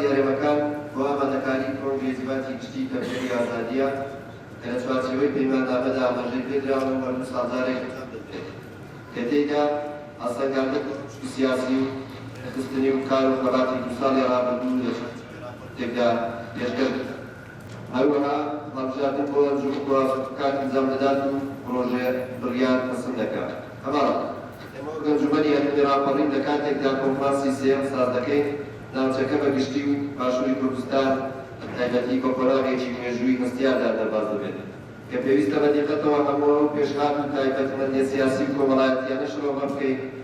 هەرێمەکان بۆ ئامادەکاری پرۆژەی زیڤاتی گشتی کەمپێنی ئازادییە کە لە چوارچێوەی پەیماننامەدا ئاماژەی پێدراوە و هەموو ساڵجارێک ئەنجام دەدرێت کە تێیدا هەڵسەنگاندن بۆ پشکی سیاسی و نەخستنی و کار و خەباتی دوو ساڵی ڕابردوو لە چوارچێوەی ڕاپۆرتێکدا پێشکەش بکات. هەروەها هەڵبژاردن بۆ ئەنجوومەنگوازە کار ئەنجام دەدات و پڕۆژە بڕیار پەسند دەکات. هەماڵ، ئێمە وەک ئەنجوومەنی هەرێمی ڕاپەڕین لە کاتێکدا کۆنفرانسی سێیەم ساز دەکەین، ناوچەکە بە گشتی و باشووری کوردستان بە تایبەتی بە قۆناغێکی مێژووی هەستیاردا دەرباز دەبێت کە پێویستە بە دیقەتەوە هەموو ئەو پێشهات و تایبەتمەندییە سیاسی و کۆمەڵایەتییانە شرۆڤە بکەین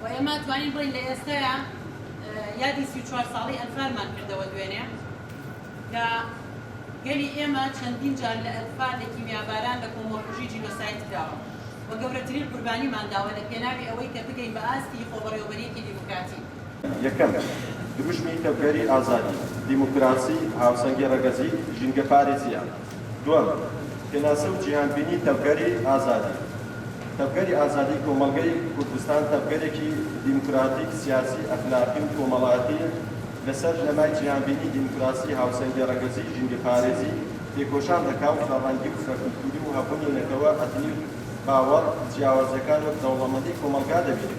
و ئێمە توانین بڵێین لە ئێستەیا یادی سی و چوار ساڵەی ئەنفالمان کردەوە دوێنێ کە گەلی ئێمە چەندین جار لە ئەنفال لە کیمیاباران لە کۆمەڵکوژی جینۆساید کراوە و گەورەترین قوربانیمان داوە لە پێناوی ئەوەی کە بگەین بە ئاستی خۆبەڕێوەبەرییەکی دیموکراتی. یەکەم، دروشمی تەڤگەری ئازادی، دیموکراسی، هاوسەنگی ڕەگەزی، ژینگەپارێزییە. دووەم، پێناسە و جیهانبینی تەڤگەری ئازادی تەڤگەری ئازادی کۆمەڵگەی کوردستان تەڤگەرێکی دیموکراتیک، سیاسی، ئەخلاقی و کۆمەڵایەتی لەسەر بنەمای جیهانبینی دیموکراسی، هاوسەنگی ڕەگەزی، ژینگەپارێزی تێکۆشان دەکا و فرەڕەنگی و فرەکولتووری و هەبوونی نەتەوە، ئەتنی و باوەڕ جیاوازەکان وەک دەوڵەمەندی کۆمەڵگا دەبینێ.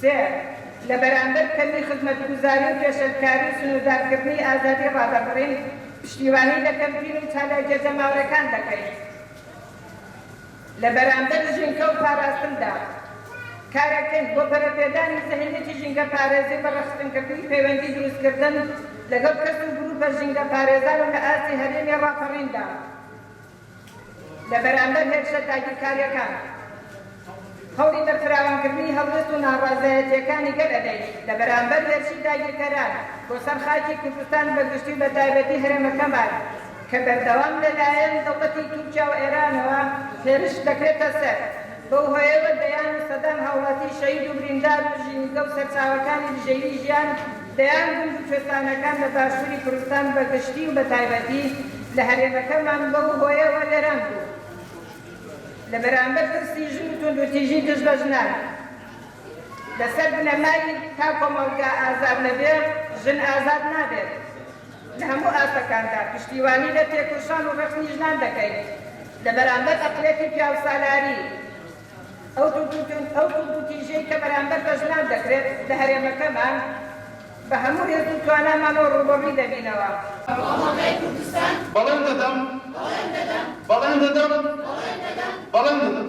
سێ، لە بەرامبەر کەمی خزمەتگوزاری و پێشێلکاری و سنووردارکردنی ئازادی ڕادەربڕین، پشتیوانی لە کەمپین و چالاکییە جەماوەرەکان دەکەین لە بەرامبەر ژینگە و پاراستندا، کارەکەین بۆ پەرەپێدانی زەهنیەتی ژینگەپارێزی و بەڕەخسنکردنی پەیوەندی دروستکردن لەگەڵ کەس و گرووپە ژینگەپارێزان و لە ئاستی هەرێمی ڕاپەڕیندا. لە بەرامبەر هێرشە داگیرکارییەکان، هەوڵی بەرفراوانکردنی هەڵوێست و ناڕەزایەتییەکانی گەل ئەدەیش لە بەرامبەر هێرشی داگیرکەران بۆ سەر خاکی کوردستان بە گشتی و بە تایبەتی هەرێمەکەمان کە بەردەوام لە لایەن دەوڵەتی تورکیا و ئێرانەوە هێرش دەکرێتە سەر، بەو هۆیەوە دەیان و سەدان هاوڵاتی شەهید و بریندار و ژینگە و سەرچاوەکانی بژێوی ژیان دەیان گوند و کوێستانەکان لە باشووری کوردستان بە گشتی و بە تایبەتی لە هەرێمەکەمان بەو هۆیەوە وێران بوون. لە بەرامبەر پرسی ژن و توندوتیژی دژ بە ژنان لەسەر بنەمای تا کۆمەڵگا ئازاد نەبێ ژن ئازاد نابێت لە هەموو ئاستەکاندا پشتیوانی لە تێکۆشان و ڕەخنی ژنان دەکەین لە بەرامبەر ئەقڵیەتی پیاوسالاری ئەو توندوتیژیەی کە بەرامبەر بە ژنان دەکرێت لە هەرێمەکەمان بە هەموو هێز و توانامانەوە ڕووبەڕووی دەبینەوە. بەڵێن دەدەم. بەڵێن دەدەم. بەڵێن دەدەم.